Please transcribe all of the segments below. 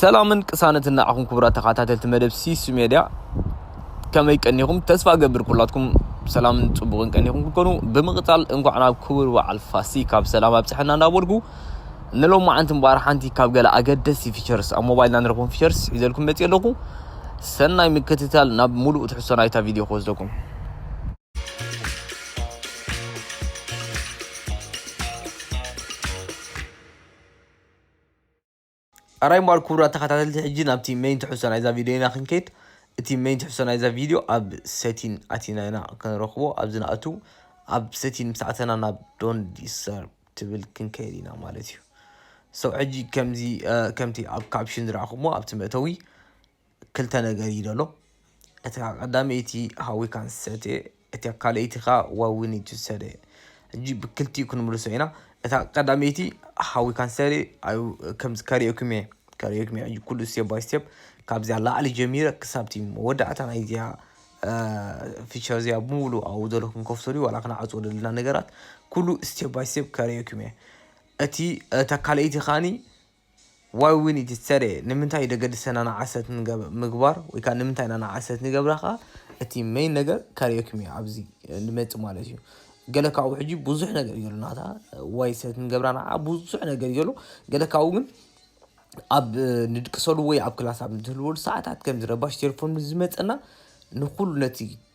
ሰላምን ቅሳነትን ንዓኹም ክቡራት ተኸታተልቲ መደብ ሲሱ ሜድያ ከመይ ቀኒኹም ተስፋ ገብር ኩላትኩም ሰላምን ጽቡቕን ቀኒኹም ክትኮኑ ብምቕጻል እንኳዕ ናብ ክቡር በዓል ፋሲካ ብሰላም ኣብጽሐና እንዳበልኩ ንሎም መዓንቲ እምበኣር ሓንቲ ካብ ገለ ኣገደስቲ ፊቸርስ ኣብ ሞባይልና ንረኽቦም ፊቸርስ ሒዘልኩም መጽእ ኣለኹ ሰናይ ምክትታል ናብ ሙሉእ ትሕሶ ናይታ ቪድዮ ክወስደኩም ኣራይ እምበኣር ኩቡራት ተኻታተልቲ ሕጂ ናብቲ መይን ትሕዝቶ ናይዛ ቪድዮ ኢና ክንከይድ እቲ መይን ትሕዝቶ ናይዛ ቪድዮ ኣብ ሰቲን ኣቲና ኢና ክንረኽቦ ኣብዚ ንኣቱ ኣብ ሰቲን ምስ ኣተና ናብ ዶን ዲስር ትብል ክንከይድ ኢና ማለት እዩ ሰው ሕጂ ከምዚ ከምቲ ኣብ ካፕሽን ዝረኣኹሞ ኣብቲ መእተዊ ክልተ ነገር እዩ ዘሎ እቲ ቀዳመይቲ ሃዊካ ንሰተ እቲ ካልኣይቲ ከዓ ዋዊን ትሰተ ሕጂ ብክልቲኡ ክንምልሶ ኢና እታ ቀዳመይቲ ሃዊካ ንሰተ ከምዚ ከርእየኩም እየ ከርእየኩም እየ ኩሉ ስቴፕ ባይ ስቴፕ ካብዚያ ላዕሊ ጀሚረ ክሳብቲ መወዳእታ ናይዚያ ፊቸር እዚኣ ብምሉ ኣብኡ ዘሎ ክንከፍቶ ድዩ ዋላ ክንዓፅዎ ዘለና ነገራት ኩሉ ስቴፕ ባይ ስቴፕ ከርእየኩም እየ እቲ እታ ካልኣይቲ ከዓኒ ዋይ ዊኒ እቲ ትሰርሔ ንምንታይ እዩ ደገድሰና ንዓሰት ምግባር ወይ ከኣ ንምንታይ ኢና ንዓሰት ንገብራ ከኣ እቲ መይን ነገር ካርዮኪም እዩ ኣብዚ ንመጽእ ማለት እዩ ገለ ካብኡ ሕጂ ብዙሕ ነገር እዩ ዘሎ ናታ ዋይ ሰት ንገብራ ንዓ ብዙሕ ነገር እዩ ዘሎ ገለ ካብኡ ግን ኣብ ንድቅሰሉ ወይ ኣብ ክላስ ኣብ ንትህልወሉ ሰዓታት ከምዚ ረባሽ ቴሌፎን ምስ ዝመጸና ንኩሉ ነቲ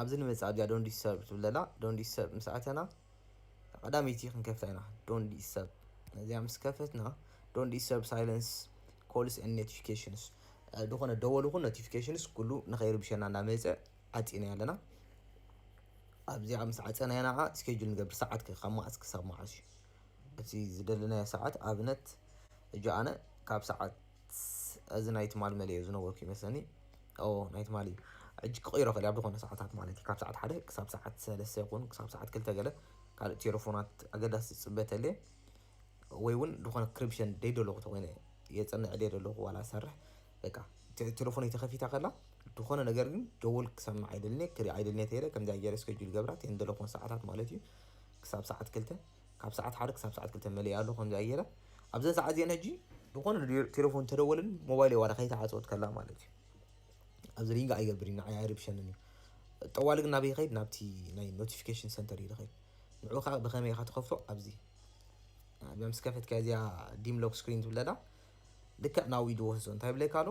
ኣብዚ ንመጽእ ኣብዚኣ ዶን ዲስተርብ ትብል ዘላ ዶን ዲስተርብ ምስ ኣተና ቀዳመይቲ ክንከፍታ ኢና ዶን ዲስተርብ ነዚኣ ምስ ከፈትና ዶን ዲስተርብ ሳይለንስ ኮልስ ን ኖቲፊኬሽንስ ዝኾነ ደወል ይኹን ኖቲፊኬሽንስ ኩሉ ንኸይርብሸና እናመፀ ዓፂና ኣለና ኣብዚኣ ምስ ዓፀና ኢና ከዓ ስኬጁል ንገብር ሰዓት ካብ መዓስ ክሳብ መዓስ እዩ እቲ ዝደለናዮ ሰዓት ኣብነት እጆ ኣነ ካብ ሰዓት እዚ ናይ ትማል መሊኦ ዝነበርኩ ይመስለኒ ኦ ናይ ትማሊ ሕጂ ክቕይሮ ክእል ኣብ ዝኾነ ሰዓታት ማለት ካብ ሰዓት ሓደ ክሳብ ሰዓት ሰለስተ ይኹን ክሳብ ሰዓት ክልተ ገለ ካልእ ቴሌፎናት ኣገዳሲ ዝጽበ ተልየ ወይ እውን ዝኾነ ክሪፕሽን ደይ ደለኹ ተኮይነ የጽንዕ ደይ ደለኹ ዋላ ሰርሕ በቃ ቴሌፎነይ ተኸፊታ ከላ ዝኾነ ነገር ግን ደወል ክሰምዕ ኣይደልኔ ክርኢ ኣይደልኔ ተይለ ከምዚ ኣገይረ ስከጁል ገብራ ቴን ደለኹን ሰዓታት ማለት እዩ ክሳብ ሰዓት ክልተ ካብ ሰዓት ሓደ ክሳብ ሰዓት ክልተ መሊኣ ኣሎ ከምዚኣ ገይረ ኣብዘን ሰዓት እዚአን ሕጂ ዝኾነ ቴሌፎን ተደወልን ሞባይል ዋላ ከይተዓፀወት ከላ ማለት እዩ ኣብዚ ሪንግ ኣይገብር እዩ ንዓይ ኣይርብሸንን እዩ ጠዋሊ ግን ናበይ ይኸይድ ናብቲ ናይ ኖቲፊኬሽን ሰንተር እዩ ዝኸይድ ንዑ ከዓ ብኸመይ ኢኻ ትኸፍቶ ኣብዚ ምስ ከፈትካ እዚኣ ዲም ሎክ ስክሪን ትብለላ ልክዕ ናብኡ ይድወስዞ እንታይ ብለካ ኣሎ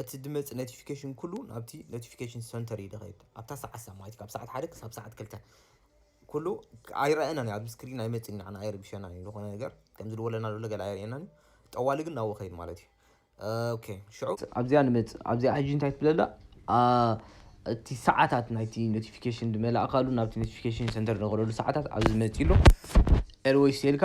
እቲ ድመጽ ነቲፊከሽን ኩሉ ናብቲ ነቲፊከሽን ሰንተር እዩ ድኸይድ ኣብታ ሰዓት ሰ ማለት ካብ ሰዓት ሓደ ክሳብ ሰዓት ክልተ ኩሉ ኣይረኣየናን ኣብ ስክሪን ኣይመጽን ንዓና ኣይርብሸናን እዩ ዝኾነ ነገር ከምዚ ድወለና ዘሎ ገለ ኣይርእየናን እዩ ጠዋሊ ግን ናብኡ ከይድ ማለት እዩ ኦኬ ሽዑ ኣብዚኣ ንመጽእ ኣብዚኣ ሕጂ እንታይ ትብለላ እቲ ሰዓታት ናይቲ ኖቲፊኬሽን ድመላእካሉ ናብቲ ኖቲፊኬሽን ሰንተር ንቕረሉ ሰዓታት ኣብዚ መጺ ኣሎ ኤልወይስ ኤልካ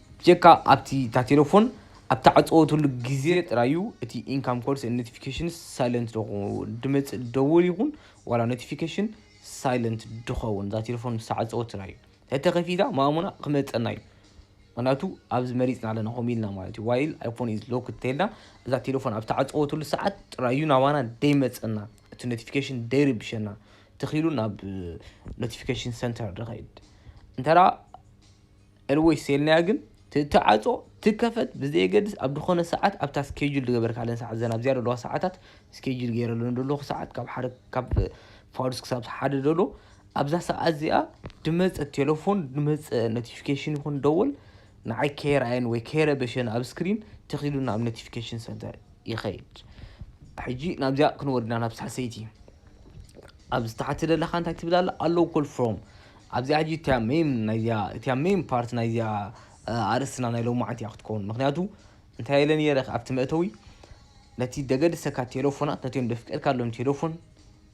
ብጀካ ኣብቲ እታ ቴለፎን ኣብ ትዓጸወትሉ ግዜ ጥራይ እዩ እቲ ኢንካም ኮልስ ኤንድ ኖቲፊኬሽንስ ሳይለንት ዝኸውን። ድመጽእ ደወል ይኹን ዋላ ኖቲፊኬሽን ሳይለንት ድኸውን እዛ ቴለፎን ምስ ተዓጸወትና እዩ። ተተኸፊታ ማእሙና ክመጸና እዩ። ምክንያቱ ኣብዚ መሪጽና ኣለና ከምኡ ኢልና ማለት እዩ። ዋይል ኣይፎን ኢዝ ሎክድ እንተይልና እዛ ቴለፎን ኣብ ተዓጸወትሉ ሰዓት ጥራይ እዩ ናባና ደይመጸና እቲ ኖቲፊኬሽን ደይርብሸና። ተኺሉ ናብ ኖቲፊኬሽን ሰንተር ድኸይድ እንተ Always ሴልናያ ግን ትትዓጾ ትከፈት ብዘየገድስ ኣብ ድኮነ ሰዓት ኣብታ ስኬጁል ድገበርካለን ሰዓት ዘን ኣብዚኣ ደለዋ ሰዓታት ስኬጁል ገይረለን ደለኩ ሰዓት ካብ ሓደ ካብ ፋዱስ ክሳብ ሓደ ደሎ ኣብዛ ሰዓት እዚኣ ድመጸ ቴለፎን ድመጸ ኖቲፊኬሽን ይኹን ደወል ንዓይ ከይርኣየን ወይ ከይረበሸን ኣብ ስክሪን ተኺሉ ናብ ኖቲፊኬሽን ሰንተር ይኸይድ ሕጂ ናብዚኣ ክንወርድና ናብ ሳልሰይቲ ኣብዚ ታሕቲ ደለካ እንታይ ትብል ኣላ ኣሎው ኮል ፍሮም ኣብዚኣ ሕጂ እቲኣ ሜይን ናይዚኣ እቲኣ ሜይን ፓርት ናይዚኣ ኣርእስትና ናይ ሎማዓንቲ እያ ክትከውን ምክንያቱ እንታይ ኢለ ነይረ ኣብቲ መእተዊ ነቲ ደገድሰካ ቴለፎናት ነቲኦም ደፍቀድካሎም ቴለፎን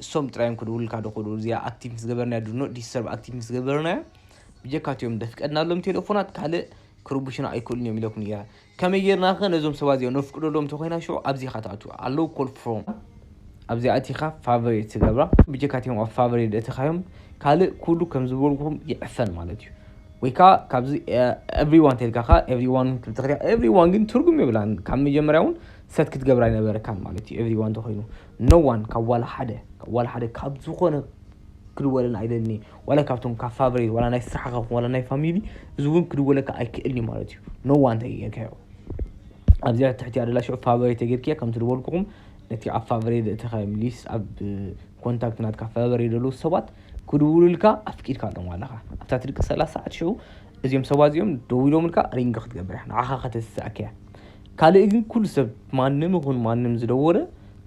እሶም ጥራዮም ክድውልካ ድክእሉ እዚኣ ኣክቲቭ ምስ ገበርናያ ድኖ ዲስተርብ ኣክቲቭ ምስ ገበርናያ ብጀካ እቲኦም ደፍቀድናሎም ቴለፎናት ካልእ ክርቡሽና ኣይክእሉን እዮም ኢለኩም ነይረ ከመይ ጌርና ከ ነዞም ሰባት እዚኦም ነፍቅደሎም እንተኮይና ሽዑ ኣብዚ ኢካ ትኣቱ ኣሎው ኮል ፍሮም ኣብዚ ኣቲካ ፋቨሬት ትገብራ ብጀካ እቲኦም ኣብ ፋቨሬት እትካዮም ካልእ ኩሉ ከም ዝበልኩም ይዕፈን ማለት እዩ ወይ ከዓ ካብዚ ኤቭሪዋን ተልካ ከዓ ኤቭሪዋን ክትኽሪያ ኤቭሪዋን ግን ትርጉም የብላን ካብ መጀመርያ እውን ሰት ክትገብራ ኣይነበረካን ማለት እዩ ኤቭሪዋን ተኮይኑ ኖዋን ካብ ዋላ ሓደ ካብ ዋላ ሓደ ካብ ዝኾነ ክድወለና ኣይደልኒ ዋላ ካብቶም ካብ ፋብሪ ዋላ ናይ ስራሕኻ ይኹን ዋላ ናይ ፋሚሊ እዚ እውን ክድወለካ ኣይክእልን እዩ ማለት እዩ ኖዋ እንተጌርካዮ ኣብዚኣ ትሕቲ ኣደላ ሽዑ ፋብሪ ተጌርክያ ከምቲ ዝበልኩኹም ነቲ ኣብ ፋብሪ ዘእተኻዮም ሊስ ኣብ ኮንታክት ናትካ ፋብሪ ዘለዉ ሰባት ክድውሉልካ ኣፍቂድካ ኣሎም ኣለኻ ኣብታ ትድቂ ሰላሳ ሰዓት ሽዑ እዚኦም ሰባት እዚኦም ደው ኢሎምልካ ሪንግ ክትገብር እያ ንዓኻ ከተስስኣካ እያ ካልእ ግን ኩሉ ሰብ ማንም ይኹን ማንም ዝደወለ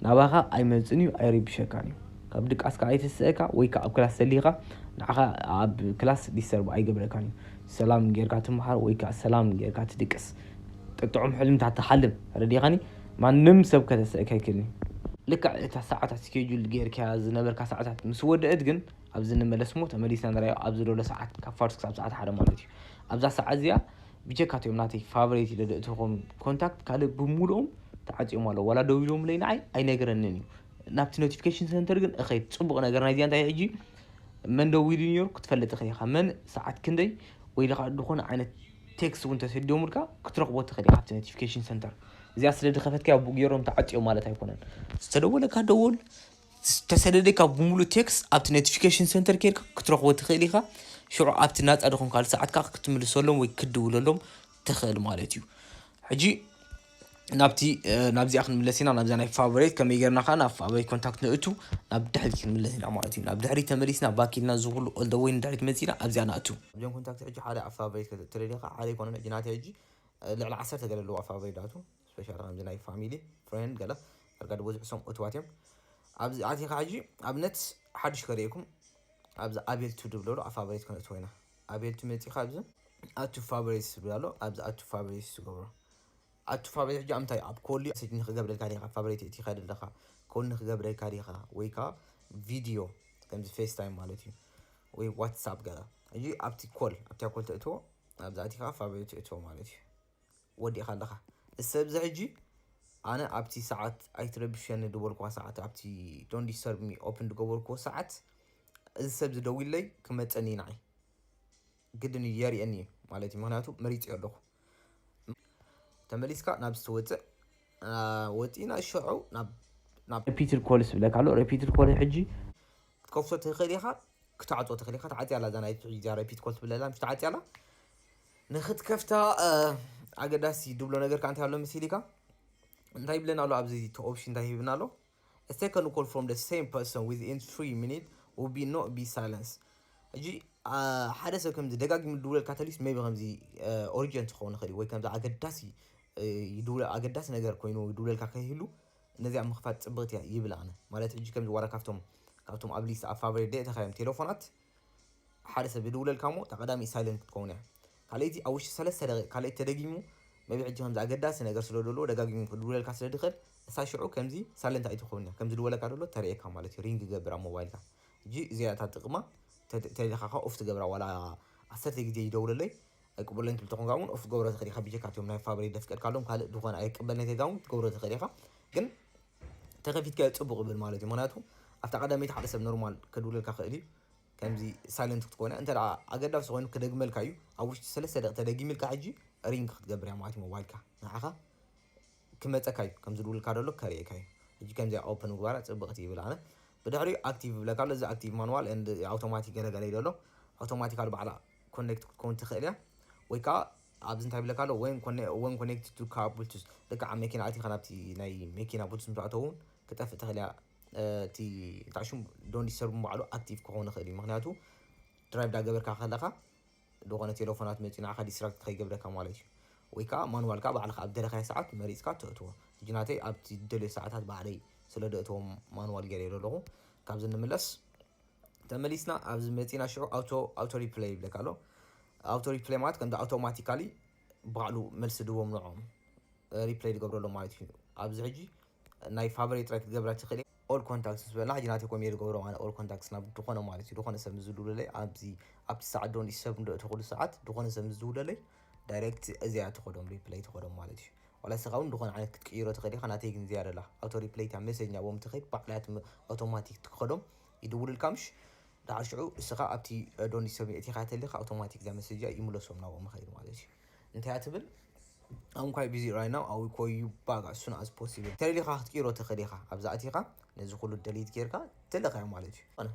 ናባኻ ኣይመፅን እዩ ኣይርብሸካን እዩ ካብ ድቃስካ ኣይተስእካ ወይ ከኣ ኣብ ክላስ ተሊካ ንዓካ ኣብ ክላስ ዲስተርብ ኣይገብረካን እዩ ሰላም ጌርካ ትምሃር ወይ ከኣ ሰላም ጌርካ ትድቅስ ጥዑም ሕልምታት ትሓልም ተረዲካኒ ማንም ሰብ ከተስእካ ኣይክእልን እዩ ልክዕ እታ ሰዓታት ስኬጁል ጌርካያ ዝነበርካ ሰዓታት ምስ ወደእት ግን ኣብዚ ንመለስ እሞ ተመሊስና ንርኣዮ ኣብዚ ሎለ ሰዓት ካብ ፋርስ ክሳብ ሰዓት ሓደ ማለት እዩ ኣብዛ ሰዓት እዚኣ ብጀካ እትኦም ናተይ ፋቨሬት ኢለ ዘእትዎም ኮንታክት ካልእ ብምሉኦም ተዓፅዮም ኣለዉ ዋላ ደው ኢሎምለይ ንዓይ ኣይነገረንን እዩ ናብቲ ኖቲፊኬሽን ሰንተር ግን እኸይድ ፅቡቕ ነገር ናይዚኣ እንታይ ሕጂ መን ደው ኢሉ ነሩ ክትፈልጥ ትኽእል ኢኻ መን ሰዓት ክንደይ ወይ ድኻ ዝኾነ ዓይነት ቴክስት እውን ተሰዲሙልካ ክትረኽቦ ትኽእል ኢኻ ኣብቲ ኖቲፊኬሽን ሰንተር እዚኣ ስለ ድኸፈትካያ ቡግ ገይሮም ተዓፅዮም ማለት ኣይኮነን ዝተደወለካ ደወል ዝተሰደደካ ብምሉእ ቴክስት ኣብቲ ኖቲፊኬሽን ሰንተር ኬርካ ክትረኽቦ ትኽእል ኢኻ ሽዑ ኣብቲ ናፃ ድኾንካሉ ሰዓትካ ክትምልሰሎም ወይ ክትድውለሎም ትኽእል ማለት እዩ ሕጂ ናብቲ ናብዚኣ ክንምለስ ኢና ናብዛ ናይ ፋቨሬት ከመይ ጌርና ከዓ ናብ ፋቨሬት ኮንታክት ንእቱ ናብ ድሕሪት ክንምለስ ኢና ማለት እዩ ናብ ድሕሪት ተመሊስና ባክ ኢልና እዚ ኩሉ ኦል ወይ ንድሕሪት መፂና ኣብዚኣ ንኣቱ ኣብዚኦም ኮንታክት ሕጂ ሓደ ኣብ ፋቨሬት ከተእቱ ደሊኻ ሓደ ይኮኖም ሕጂ ናተይ ሕጂ ልዕሊ ዓሰርተ ገለ ኣለዋ ፋቨሬት ዳቱ ስፔሻል ከምዚ ናይ ፋሚሊ ፍሬንድ ገለ ዳርጋ ዝበዝሑ ሰም እትዋት እዮም ኣብዚ ኣቲኻ ሕጂ ኣብነት ሓድሽ ከርእየኩም ኣብዚ ኣቤል ቱ ድብለሉ ኣብ ፋቨሬት ከነእትዎ ኢና ኣቤል እቲ መጺኻ ኣብዚ ኣድ ቱ ፋቨሪትስ ዝብል ኣሎ ኣብዚ ኣድ ቱ ፋቨሪትስ ትገብሮ ኣድ ቱ ፋቨሪት ሕጂ ኣምታይ ኣብ ኮሊ ሰጅ ንክገብረልካ ዲኻ ፋቨሪት እቲ ኸደ ኣለኻ ኮል ንክገብረልካ ዲኻ ወይ ከኣ ቪድዮ ከምዚ ፌስ ታይም ማለት እዩ ወይ ዋትሳፕ ገለ ሕጂ ኣብቲ ኮል ኣብቲ ኮል ተእትዎ ኣብዛ እቲ ከኣ ፋቨሪት ትእትዎ ማለት እዩ ወዲእካ ኣለካ እሰ እብዚ ሕጂ ኣነ ኣብቲ ሰዓት ኣይትረብሸኒ ድበልክዋ ሰዓት ኣብቲ ዶን ዲስተርብ ሚ ኦፕን ድገበርክዎ ሰዓት እዚ ሰብ ዝደዊለይ ክመፀኒ እዩ ንዓይ ግድን እዩ የርእየኒ እዩ ማለት እዩ ምክንያቱ መሪፅዮ ኣለኩ ተመሊስካ ናብ ዝተወፅእ ወፂእና ሸዑ ናብ ሪፒትድ ኮልስ ዝብለካ ኣሎ ሪፒትድ ኮል ሕጂ ክትከፍቶ ትኽእል ኢኻ ክትዓፆ ትኽእል ኢኻ ተዓፅያ ኣላ እዛ ናይ ሕጂ እዚኣ ሪፒት ኮል ትብለላ ምስ ተዓፅያ ኣላ ንክትከፍታ ኣገዳሲ ድብሎ ነገር ከ እንታይ ኣሎ መሲሊካ እንታይ ይብለና ኣሎ ኣብዚ እቲ ኦፕሽን እንታይ ሂብና ኣሎ A second call from the same person within 3 minutes will be not be silenced ሕጂ ሓደ ሰብ ከምዚ ደጋጊሙ ድውለልካ ተሊስ ሜቢ ከምዚ ኦሪጀንት ክኸውን ይኽእል ወይ ከምዚ ኣገዳሲ ኣገዳሲ ነገር ኮይኑ ድውለልካ ከይህሉ ነዚኣ ምኽፋት ፅብቕቲ እያ ይብል ኣነ ማለት ሕጂ ከምዚ ዋላ ካብቶም ካብቶም ኣብ ሊስት ኣብ ፋቨሬት ደእተኻዮም ቴሌፎናት ሓደ ሰብ ዝድውለልካ እሞ እታ ቀዳመይቲ ሳይለንት ክትከውን እያ ካልኣይቲ ኣብ ውሽጢ ሰለስተ ደቂቅ ካልኣይቲ ተደጊሙ maybe ሕጂ ከምዚ ኣገዳሲ ነገር ስለ ዘለዎ ደጋጊሙ ክድውለልካ ስለ ዝኽእል እሳ ሽዑ ከምዚ ሳይለንት ኣይትኸውን እያ ከም ዝድወለካ ደሎ ተርእየካ ማለት እዩ ሪንግ ይገብር ኣብ ሞባይልካ ሕጂ እዚኣ እታ ጥቅማ ተሊኻ ከ ኦፍ ትገብራ ዋላ ዓሰርተ ግዜ ይደውለለይ ኣይቅበሎን ትብል ተኾንካ እውን ኦፍ ትገብሮ ትኽእል ኢኻ ብጀካ እትዮም ናይ ፋብሪ ደፍቀድካሎም ካልእ ዝኾነ ኣይቅበልነት የጋ እውን ትገብሮ ትኽእል ኢኻ ግን ተከፊትካዮ ጽቡቅ ይብል ማለት እዩ ምክንያቱ ኣብታ ቀዳመይቲ ሓደ ሰብ ኖርማል ከድውለልካ ክእል እዩ ከምዚ ሳይለንት ክትኮነ እንተ ኣገዳሲ ኮይኑ ክደግመልካ እዩ ኣብ ውሽጢ ሰለስተ ደቂ ተደጊምልካ ሕጂ ሪንግ ክትገብር እያ ማለት እዩ ሞባይልካ ንዓኻ ክመጸካ እዩ ከም ዝድውልካ ደሎ ከርእየካ እዩ ሕጂ ከምዚኣ ኦፕን ምግባራ ጽብቅቲ ይብል ኣነ ብድሕሪኡ ኣክቲቭ ይብለካ ኣሎ እዚ ኣክቲቭ ማንዋል ኣውቶማቲክ ገለገለ እዩ ደሎ ኣውቶማቲካል ባዕላ ኮኔክት ክትከውን ትኽእል እያ ወይ ከዓ ኣብዚ እንታይ ይብለካ ኣሎ ወን ኮኔክት ቱ ካር ብሉቱዝ ልክዓ መኪና ኣቲኻ ናብቲ ናይ መኪና ብሉቱዝ ምስ ኣተው እውን ክጠፍእ ትኽእል እያ እቲ እንታይ ሽሙ ዶን ዲስተርብ ባዕሉ ኣክቲቭ ክኸውን ይኽእል እዩ ምክንያቱ ድራይቭ ዳገበርካ ከለኻ ዝኾነ ቴሌፎናት መፂኡ ንዓኻ ዲስትራክት ከይገብረካ ማለት እዩ ወይ ከዓ ማንዋልካ ባዕልካ ኣብ ደለኻዮ ሰዓት መሪፅካ ተእትዎ ሕጂ ናተይ ኣብቲ ደልዮ ሰዓታት ባዕለይ ስለ ደእትዎ ማንዋል ገይረ ኣለኹ ካብዚ ንምለስ ተመሊስና ኣብዚ መጺና ሽዑ ኣውቶ ኣውቶ ሪፕለይ ይብለካ ኣሎ ኣውቶ ሪፕለይ ማለት ከምዚ ኣውቶማቲካሊ ባዕሉ መልሲ ድቦም ንዖም ሪፕለይ ዝገብረሎም ማለት እዩ ኣብዚ ሕጂ ናይ ፋቨሬት ጥራይ ክትገብራ ትኽእል ኦል ኮንታክትስ ዝበላ ሕጂ ናተይ ኮም እየ ዝገብሮ ማለት ኦል ኮንታክትስ ናብ ዝኾነ ማለት እዩ ዝኾነ ሰብ ዝድውለለይ ኣብዚ ኣብቲ ሰዓት ዶ ሰብ እንዶ እተኽእሉ ሰዓት ዝኾነ ሰብ ዝድውለለይ ዳይሬክት እዚኣ ትኸዶም ሪፕለይ ትኸዶም ማለት እዩ ዋላ ንስኻ እውን ዝኾነ ዓይነት ክትቅይሮ ትኽእል ኢኻ ናተይ ግን እዚኣ ደላ ኣውቶ ሪፕለይ እታ መሰኛ ቦም ትኸይድ ባዕላ ኣውቶማቲክ ትኸዶም ይድውልልካ ምሽ ዳሓር ሽዑ እስኻ ኣብቲ ዶንት ሰብ ሚ ኢኻ ተልካ ኣውቶማቲክ እዛ መሰጅ እዚኣ ይምለሶም ናብኦም ይኸይድ ማለት እዩ እንታይ እያ ትብል I'm quite busy right now I will call you back as soon as possible ተልኻ ክትቅይሮ ትኽእል ኢኻ ኣብዚ ኣቲኻ ነዚ ኩሉ ደሊት ጌርካ ተልኻዮ ማለት እዩ ኣነ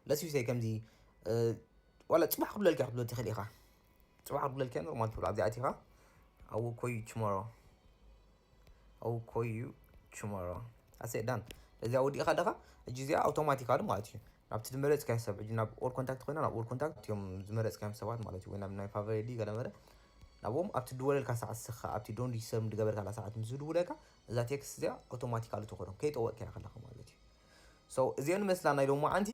ለስ ዩ ሰይ ከምዚ ዋላ ፅባሕ ክብለልካ ክትብሎ ትኽእል ኢኻ ፅባሕ ክብለልካ ኖርማል ትብሎ ኣብዚ ኣቲኻ I will call you tomorrow I will call you tomorrow ኣሰ ዳን እዚኣ ወዲእኻ ደኻ እጂ እዚኣ ኣውቶማቲካሊ ማለት እዩ ናብቲ ዝመረፅካዮ ሰብ እጂ ናብ ኦል ኮንታክት ኮይና ናብ ኦል ኮንታክት እዮም ዝመረፅካዮም ሰባት ማለት እዩ ወይ ናብ ናይ ፋቨሬዲ ገለመለ ናብኦም ኣብቲ ድወለልካ ሰዓት ስኻ ኣብቲ ዶን ዲስተር ዝገበርካላ ሰዓት ምስ ዝድውለካ እዛ ቴክስት እዚኣ ኣውቶማቲካሊ ትኾኖም ከይጠወቅካያ ከለኻ ማለት እዩ ሰው እዚኦ ንመስላ ናይ ሎሚ መዓንቲ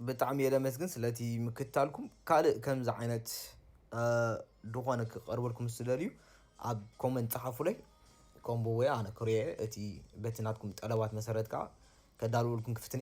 ብጣዕሚ እየ ለመስግን ስለቲ ምክትታልኩም ካልእ ከምዚ ዓይነት ድኾነ ክቀርበልኩም ዝደልዩ ኣብ ኮመንት ጸሓፉለይ ኮምቦ ወይ ኣነ ክሪኦ እቲ በቲ ናትኩም ጠለባት መሰረት ከኣ ከዳልወልኩም ክፍትን